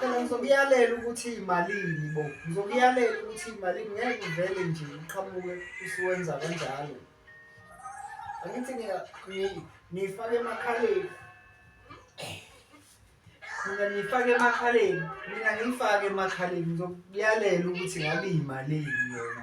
Phela ngizokuyalela ukuthi imalini bo. Ngizokuyalela ukuthi imalini ngeke uvele nje uqhamuke usuwenza kanjalo. Angithi ngiya ngifake emakhaleni. Mina ngifake emakhaleni, mina ngifake emakhaleni ngizokuyalela ukuthi ngabe imalini yona.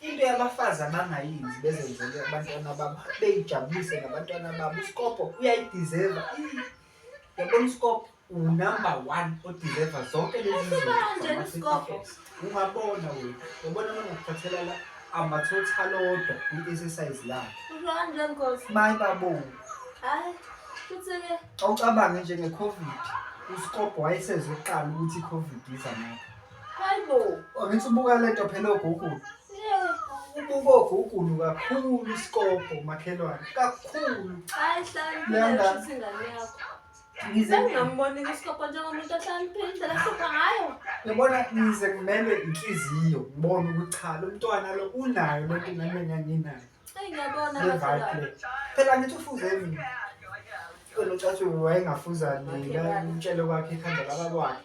into yabafazi abangayenzi bezenzele abantwana babo beyijabulise ngabantwana babo usikobho uyayideserva yabona usikobho unumber one odeserva zonke leziungabona wena yabona nongakuthathela la ama-total odwa kwi-exercise lakhe mayi babo awucabange njenge-covid usikobho wayesezoqala ukuthi i-covid iza ngakho Hayibo. Angithi ubuka lento phela ogugulu. Ubuka ogugulu kakhulu isikobho makhelwane. Kakhulu. Hayi hlala. Landa. Ingane yakho. Ngize ngambona isikobho njengomuntu ohlaliphile indlela sipha ngayo. Yabona ngize kumelwe inhliziyo ngibone ukuthi cha lo mntwana lo unayo lento nami enganginayo. Hey ngiyabona bakho. Phela ngithi ufuze mina. Kodwa ucathi wayengafuza nina umtshelo kwakhe ekhanda laba kwakhe.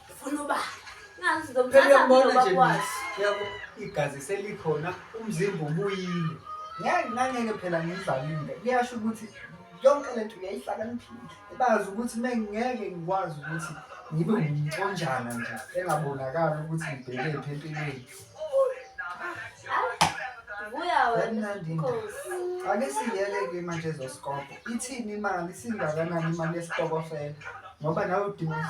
Funa uba ngazi ngizomthatha ngoba kwazi. Yabo igazi selikhona umzimba ubuyile. Ngeke ngangeke phela ngizalile. Kuyasho ukuthi yonke le nto uyayihlakaniphile. Bazi ukuthi mengeke ngikwazi ukuthi ngibe ngumconjana nje engabonakali ukuthi ngibheke phi empilweni. Buya wena Nkosi. Ake siyele ke manje ezosikobho. Ithini imali singakanani imali yesitokofela? Ngoba nawe udinga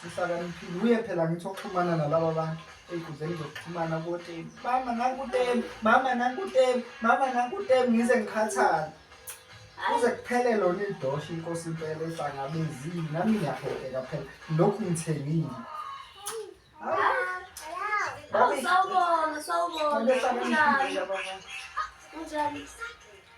sihlakaniphile uye phela ngithi oxhumana nalaba bantu ey'nkundleni zokuxhumana koteni mama nakuteni mama nakuteni mama nakuteni ngize ngikhathale kuze kuphele lona idosha inkosi impela ehlangabezile nami ngiyapheleka phela lokhu ngithengile Sawubona, sawubona. Unjani? Unjani?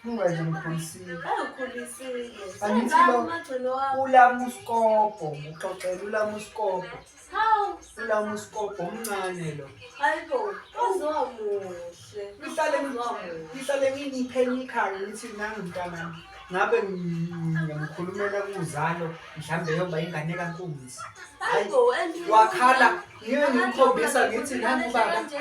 Ungaze ngikholisile. Angikholisile. Angithi lo umagcino wami. Ulama usikobho, ngixoxela ulama usikobho. Hawu, Ulama usikobho omncane lo. hayibo, uzowa muhle. Ngihlale Uzowa muhle. ngihlale nginipheni ikhaya ngithi nami mntanami. Ngabe ngikhulumela kuzalo mhlambe yoba ingane kankunzi. Hayibo, and- Wakhala ngiye ngimkhombisa ngithi nangu baba. Kanje,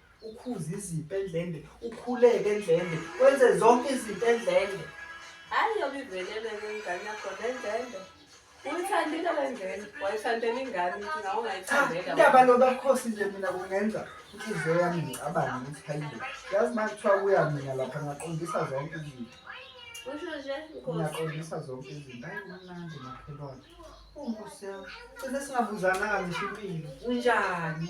ukhuze izinto endlende ukhuleke endlende wenze zonke izinto endlende hayi yobe ivelele ngengane yakho nendlende uyithandile lengane wayithandela ingane ukuthi nawe ungayithandela indaba lobakhosi nje mina kungenza inhliziyo yami ngicabane ukuthi hayibo yazi uma kuthiwa kuya mina lapha ngaqondisa zonke izinto usho nje ngiyaqondisa zonke izinto hayi kumnandi makhelwane unkosi yami cine singabuzananga ngisho impilo unjani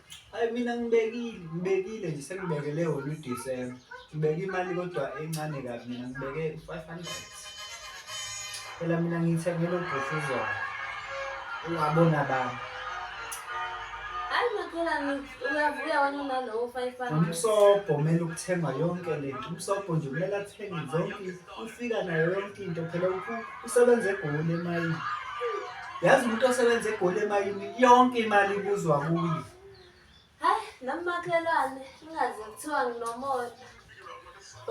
Hayi mina ngibekile, ngibekile nje sengibekele wona uDisemba. Ngibeke imali kodwa encane kabi mina ngibeke u-five hundred. Phela mina ngithengele ubhuti uzona. Ungabona bani. Hayi makhelwane uyavuya wena unalowo five hundred. Umsobho kumele ukuthengwa yonke lento. Umsobho nje kumele athenge zonke ufika nayo yonke into phela ukuthi usebenza egoli emayini yazi umuntu osebenza egoli emayini yonke imali ibuzwa kuye hayi nomakhelwane ingaze kuthiwa nginomona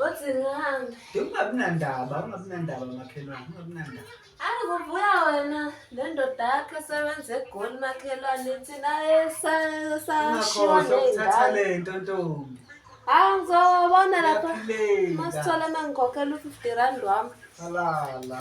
othi ngihambe ungabi nandaba ungabi nandaba makhelwane ungabi nandaba Ayi kuvuya wena le ndoda yakho esebenza egoli makhelwane thina esashiwa ukuthatha le nto ntombi hayi ngizobona lapha masithole uma ngikhokhela u-fifty rand wami halala